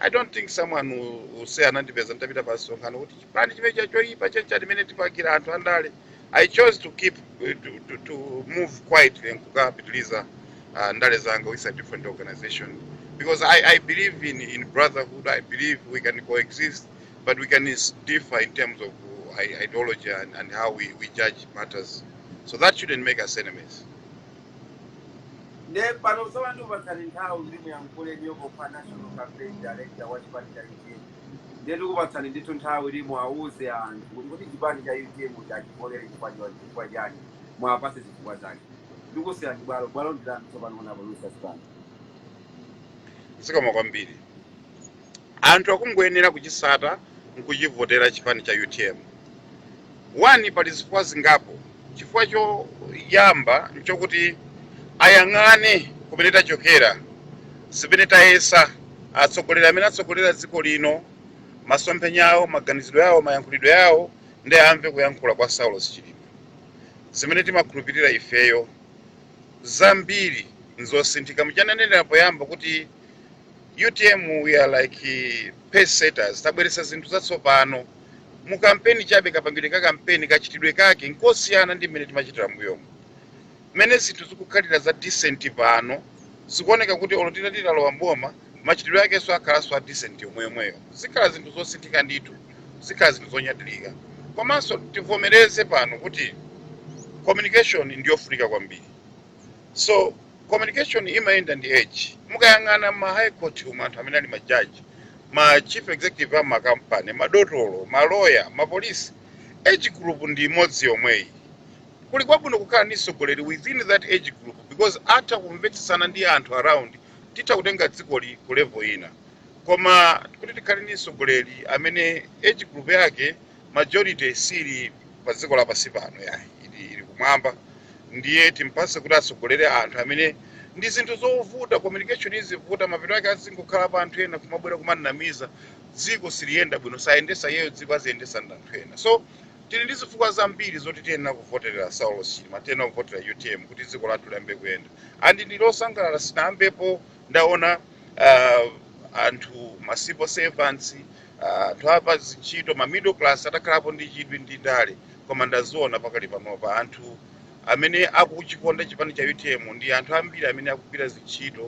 i don't think someone will, will say anandipeza nditapita pa msonkhano kuti chipani chimene cha choyipa chencha limene tipakira anthu andale i chose to keep eh, to, to, to move quietly nkukapitiliza uh, ndale zanga with a different organization because i, I believe in, in brotherhood i believe we can coexist but we can is- differ in terms of uh, i- ideology and, and how we, we judge matters so that shouldn't make us enemies Nde pano tsono ndikupatsani nthawi kuti muyankhule inuyo pokhala National Campaign Director wa chipani cha utm ndiye tikupatsani ndithu nthawi kuti muwauze anthu kuti kodi chipani cha utm muja achivotele chifukwa chon- chifukwa chani muwapatse zifukwa zake ndikusiyani bwalo bwalo ndilanu tsopano honorable Lucius Banda. zikomo kwambiri Anthu akungoyenera kuchisata nkuchivotera chipani cha utm. One pali zifukwa zingapo. Chifukwa choyamba nchokuti ayang'ane kumene tachokera, zimene tayesa, atsogoleri amene atsogolera dziko lino, masomphenya awo, maganizidwe awo, mayankhulidwe awo nde amve kuyankhula kwa Saulos Chilima. Zimene timakhulupirira ifeyo zambiri nzosinthika. Muja ndanenera poyamba kuti. utm we are like eh, pace setters tabweretsa zinthu zatsopano mu kampeni chabe kapangidwe ka kampeni kachitidwe kake nkosiyana ndi mmene timachitira mbuyomu mmene zinthu zikukhalira za decent pano zikuoneka kuti olo tita- titalowa mboma machitidwe akenso akhalanso a decent yomweyomweyo zikhala zinthu zosinthika ndithu zikhala zinthu zonyadirika komanso tivomereze pano kuti communication ndiyofunika kwambiri so communication imayenda ndi age mukayang'ana ma high court umu anthu amene ali ma judge ma chief executive a makampani madotolo maloya mapolisi age group ndi imodzi yomweyi kuli kwabwino kukhala ndi mtsogoleri within that age group because atha kumvetsetsana ndi anthu around titha kutenga dzikoli ku level ina koma kuti tikhale ndi mtsogoleri amene age group yake majority sili pa dziko lapansi pano yayi ili, ili kumwamba ndiye timpase kuti atsogolere anthu amene ndi zinthu zovuta communication izivuta mapeto ake azingokhala pa anthu ena kumabwera kumanamiza dziko siliyenda bwino sayendesa iyeyo dziko aziyendesa ndi anthu ena so tili ndi zifukwa zambiri zoti tiyenera kuvoterera saulos chilima tiyenera kuvotera utm kuti dziko lathu liyambe kuyenda and ndili osangalala sinayambepo ndaona uh, anthu ma civil servants anthu a pa zintchito ma middle class atakhalapo ndi chidwi ndi ndale koma ndaziona pakali panopa anthu amene akuchikonda chipani cha utm ndi anthu ambiri amene akugwira zintchito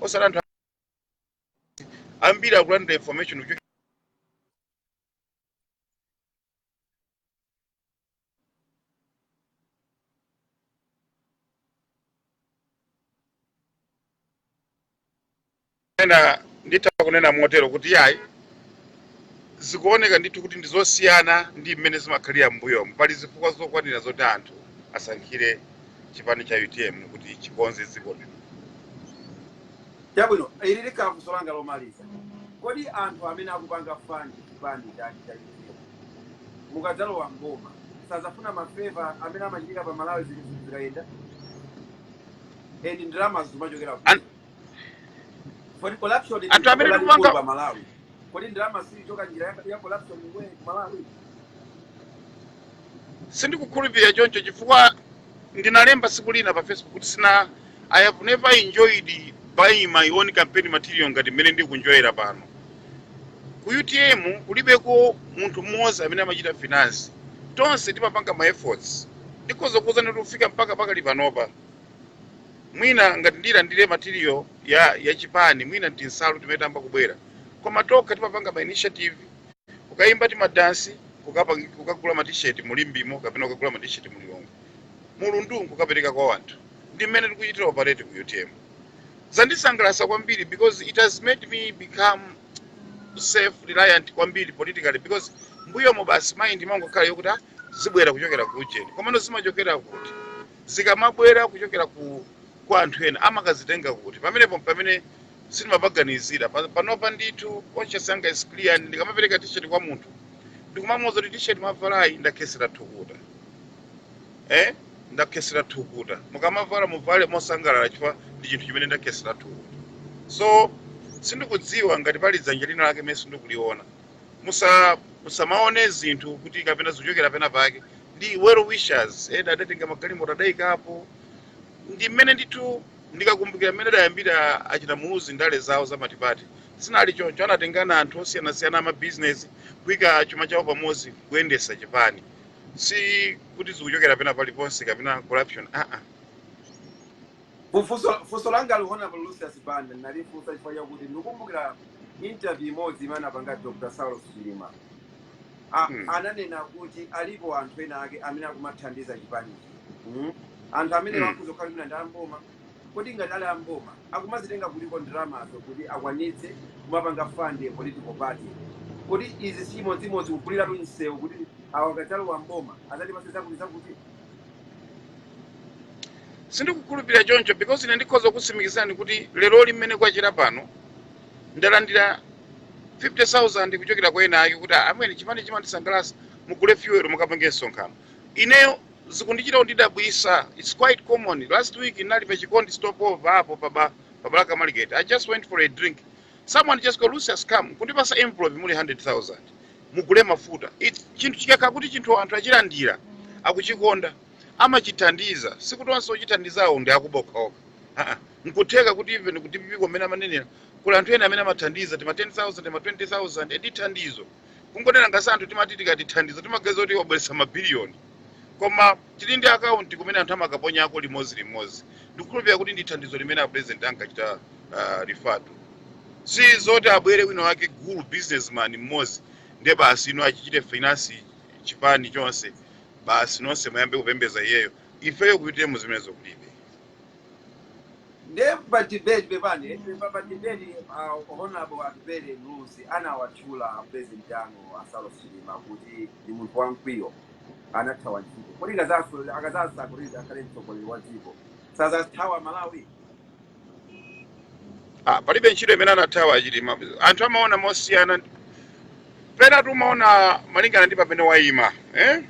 osati anthu ambiri akulandira information kuchokera ena nditha kunena motero kuti yayi zikuoneka ndithu kuti ndi zosiyana ndi mmene zimakhalira m'mbuyomu pali zifukwa zokwanira zoti anthu asankhire chipani cha utm kuti chikonze dziko lino Chabwino, ili likhala funso langa lomaliza. Kodi anthu amene akupanga fund chipani cha cha UTM mukadzalowa m'boma sazafuna ma favour amene amachitika pa malawi zinthu zikayenda and ndalamazo zimachokera An- kuti kodi corruption ndi anthu vuto amene lalikulu tikupanga pa malawi kodi ndalama siyichoka njira ya- ya corruption iwe ku malawi sindikukhulupirira choncho chifukwa Ndinalemba tsiku lina pa Facebook kuti sina I have never enjoyed buying my own campaign material ngati mmene ndikunjoyera pano. Ku UTM kulibeko munthu mmodzi amene amachita finance. Tonse timapanga ma efforts. Ndikhoza kukuuzani kuti kufika mpaka pakali panopa. Mwina ngati ndilandire material ya ya chipani, mwina tinsalu timene tayamba kubwera. Koma tokha timapanga ma initiative kukayimba timadansi kukapang- kukagula matisheti mu limbemo kapena kukagula matisheti mu lilongwe mulundu nkukapereka kwa wanthu ndi mmene tikuchitira operate ku utm zandisangalasa kwambiri because it has made me become self reliant kwambiri politically because m'mbuyomo basi mind imangokhala yokuti "Ah, zibwera kuchokera ku ujeni komano zimachokera kuti zikamabwera kuchokera ku kwa anthu ena amakazitenga kuti pamenepo pamene sindimapaganizira Pa- panopa ndithu conscious yanga is clear and ndikamapereka t-shirt kwa munthu ndikumamuuza kuti t-shirt mwavalayi ndakhetsera thukuta eh ndakhetsera thukuta mukamavala muvale mosangalala chifukwa ndi chinthu chimene ndakhetsera thukuta so sindikudziwa ngati pali dzanja lina lake limene sindikuliona musa musamaone zinthu kuti kapena zikuchokera pena pake ndi well wishers ena adatenga magalimoto adaikapo ndi mmene ndithu Ndikakumbukira mmene adayambira achina Muluzi ndale zawo za matipati zinali choncho, anatengana anthu osiyanasiyana a mabizinezi kuika chuma chawo pamodzi kuyendesa chipani. Si kuti zikuchokera pena paliponse kapena corruption aa. Funso funso langali Honourable Lucius Banda ndinalifunsa chifukwa chakuti ndikukumbukira interview imodzi imene anapanga Dr Saulos Chilima. a, Hmm. ananena kuti alipo anthu ena ake amene akumathandiza chipanichi mm? anthu amene Hmm. akhoza kukhala mwina ndi amboma kodi ngati ali amboma akumazitenga kutiko ndalamazo kuti akwanitse kumapanga fund a political party kodi izi sichimodzimodzi kuguliratu msewu kuti awa akadzalowa mboma adzatipatse zakuti zakuti sindikukhulupirira choncho because ine ndikhoza kutsimikizirani kuti lero lino mmene kwachera pano ndalandira 50,000 kuchokera kwa ena ake kuti "Ah, amwene chipani chimandisangalatsa mugule fuel mukapange msonkhano ineyo sizikundichita kundidabwisa its quite common last week ndinali pa chikondi stopover apo paBa paBalaka market i just went for a drink someone just goes Lucius come kundipatsa envelope muli 100,000 mugule mafuta It- chinthu chikakhala kuti chinthu anthu achilandira akuchikonda amachithandiza sikuti onse ochithandizawo ndi akuba okhaokha aa mkutheka kuti even ku dpp komwe amanenera kuli anthu ena amene amathandiza tima 10000 tima 20000 eti thandizo kungonena ngati anthu timati tikati thandizo timaganiza kuti wabweretsa mabiliyoni koma tili ndi akaunti kumene anthu amakaponyako limodzi limodzi ndikukhulupirira kuti ndi thandizo limene a president ankachita uh, refer to si zoti abwere wina wake gulu businessman mmodzi ndiye basi ino azichita finance chipani chonse basi nonse muyambe kupembeza iyeyo ifeyo ku UTM zimenezo kulibe nde pa debate pepani pa, pa debate uh, honorable atupele Muluzi anawatchula president anu a Saulos Chilima kuti ndi munthu wamkwiyo anathawa ntchito kodi akazaso- akadzasankhidwa akhale mtsogoleri wa dziko sadzathawa malawi Ah, palibe ntchito imene anathawa chilima anthu amaona mosiyana pena tumaona malingana ndi pamene wayima eh?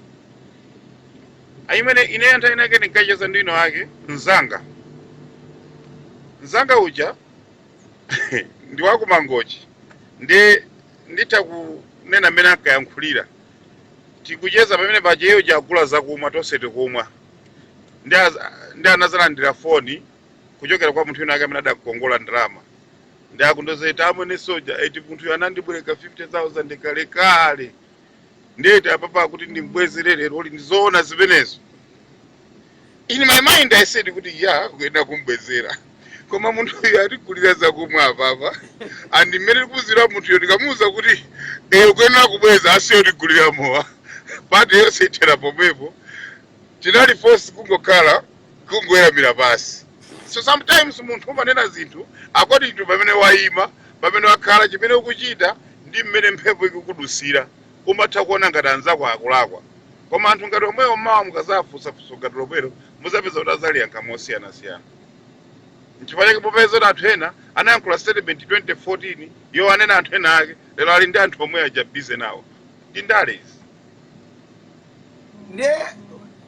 ayi mmene ine nthawi inake ndinkacheza ndi wina wake mzanga mzanga uja ndi wakumangochi ndi nditha kunena mmene ankayankhulira tikucheza pamene paja iye uja agula zakumwa tonse tikumwa ndi az- ndi anadzalandira foni kuchokera kwa munthu wina ake amene adakukongola ndalama ndi akundoza eti amwene soja eti munthuyo anandibwereka 50000 kalekale ndiye eti apapa akuti ndimbwezere lero uli ndizoona zimenezo in my mind i said kuti ya kuyenera kumbwezera koma munthuyo atigulira zakumwa apapa and mmene tikudziwira munthuyo tikamuwuza kuti eh ukuyenera kubweza asiye utigulira mowa pati yonse ithera pomwepo tinali force kungokhala kungoweramira pansi. So sometimes munthu umanena zinthu according to pamene waima, pamene wakhala, chimene ukuchita ndi mmene mphepo ikudutsira. Umatha kuona ngati anzako akulakwa koma anthu ngati omwewo mawa mukazawafunsa funso ngati lomwelo muzapeza kuti azaliyankha mosiyanasiyana. Nchifukwa chake popeza kuti anthu ena anayankhula statement 2014 yowanena anthu ena ake lero ali ndi anthu omwe aja busy nawo. Ndi ndale izi. Ndiye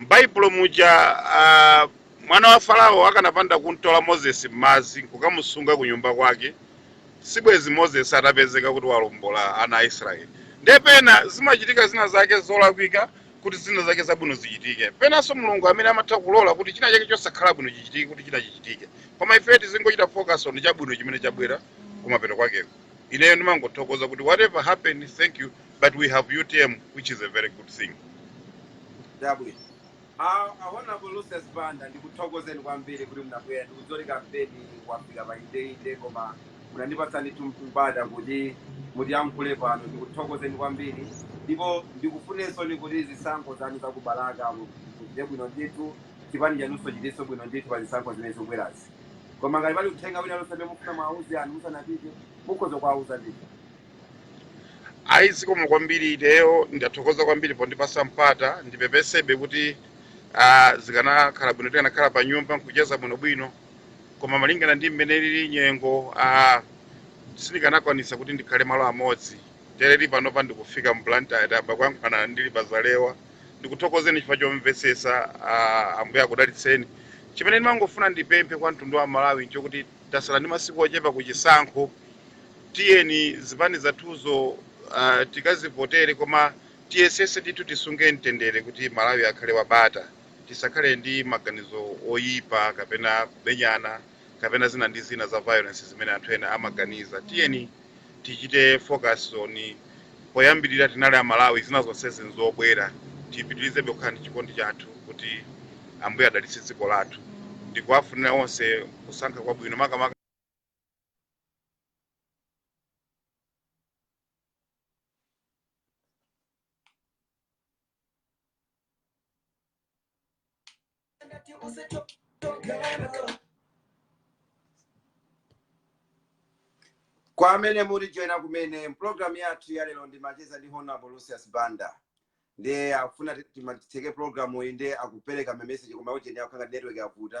M'Baibulo muja, a, mwana wa Farao akanapanda kum'tola Moses m'madzi n'kukamusunga kunyumba kwake, sibwenzi Moses atapezeka kuti walombola ana a Israeli. Ndiye pena zimachitika zina zake zolakwika kuti zina zake zabwino zichitike. Penanso Mulungu amene amatha kulola kuti china chake chosakhala bwino chichitike kuti china chichitike. Koma ifeyo tizingochita focus on chabwino chimene chabwera kumapeto kwakeko. Ineyo ndimangothokoza kuti whatever happen, thank you but we have utm which is a very good thing dabwino awona poluse zipanda ndikuthokozeni kwambiri kuti munabwera ndikudzoti kampeni wafika pa ndendende koma munandipatsani tumpata kuti mutiyankhule pano ndikuthokozeni kwambiri ndipo ndikufunireni kuti zisankho zanu zakubalaka muchite bwino ndithu chipani chanunso chichitenso bwino ndithu pa zisankho zimene zikubwerazi koma ngati pali uthenga wina lonse amene mufuna mwauze anthu musanapite mukhoza kuwauza ndithu ayi zikomo kwambiri ineyo ndithokoza kwambiri pondipasa mpata ndipepesebe kuti ah, zikanakhala bwino tikanakhala pa nyumba nkucheza bwinobwino koma malingana ndi mmene lili nyengo ah, sindikanakwanisa kuti ndikhale malo amodzi tereri panopa ndikufika mblantyre apa kuyankhulana ndili pazalewa ndikuthokozeni chifukwa chomvesesa ah, ambuye akudalitseni chimene ndimangofuna ndipemphe kwa mtundu wa malawi nchokuti Tasala ndi masiku ochepa ku chisankho, tiyeni zipani zathuzo tikazivotere koma tiyesetse ndithu tisunge mtendere kuti Malawi akhale wa bata, tisakhale ndi maganizo oyipa kapena kumenyana kapena zina ndi zina za violence zimene anthu ena amaganiza. Tiyeni. tichite focus on poyambirira tinali amalawi zina zonsezi nzobwera tipitirizebe kukhala ndi chikondi chathu kuti ambuye adalitse dziko lathu ndikuwafunira onse kusankha kwabwino makamaka kwa amene mukutijoina kumene pulogalamu yathu ya lero ndi macheza ndi honorable lucius banda ndiye akufuna ti- tima- titseke pulogalamu iyi ndiye akupereka mameseji koma ujeni zikukhala ngati network yavuta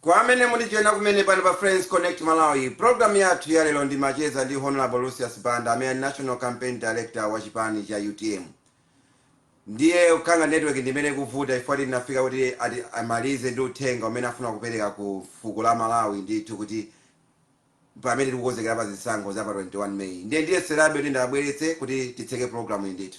kwa amene mukutijoina kumene pano pa friends connect malawi programu yathu ya lero ndimacheza ndi honorable lucius banda amene ali national campaign director wa chipani cha utm Ndiye kukhala ngati network ndi imene ikuvuta chifukwa tinafika kuti ati amalize ndi uthenga umene afuna kupereka ku fuko la Malawi ndithu kuti pamene tikukonzekera pa zisankho za pa 21 May. Ndiye ndiyeserabe kuti ndiwabweretse kuti titseke program yi ndithu.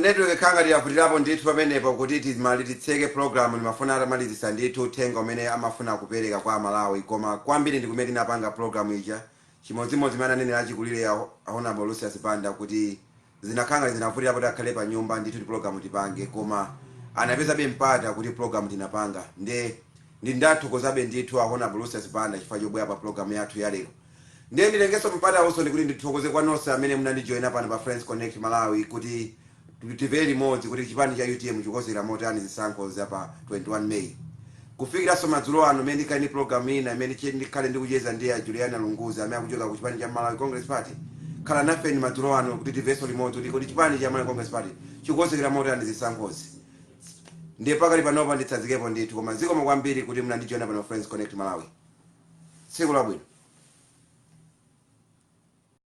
Network ikukhala ngati yavutilapo ndithu pamenepo kuti timalize titseke program ndimafuna atamalizisa ndithu uthenga umene amafuna kupeleka kwa amalawi koma kwambiri ndikumene tinapanga program ija chimodzimodzi mmene ananenela achikulile a Hon Lucius Banda kuti zinakhala ngati zinavutilapo kuti akhale panyumba ndithu kuti program tipange koma anapezabe mpata kuti program tinapanga nde ndi ndathokozabe ndithu a Hon Lucius Banda chifukwa chobwela pa program yathu yalero Ndiye nditengenso mpatawunso kuti ndithokoze kwa nonse amene munandijoina pano pa Friends Connect Malawi kuti tivere limodzi kuti chipani cha utm chikukonzekera motani zisankho za pa 21 May. Kufikiranso madzulo ano mmene ndikhale ndi program ina imene che- ndikhale ndikucheza ndi a Juliana Lunguzi amene akuchoka ku chipani cha Malawi Congress Party. Khala nafeni madzulo ano kuti tivenso limodzi kuti kuti chipani cha Malawi Congress Party chikukonzekera motani zisankhozi. Ndiye pakali panopa nditsazikepo ndithu koma zikomo kwambiri kuti munandijoina pano Friends Connect Malawi. tsiku labwino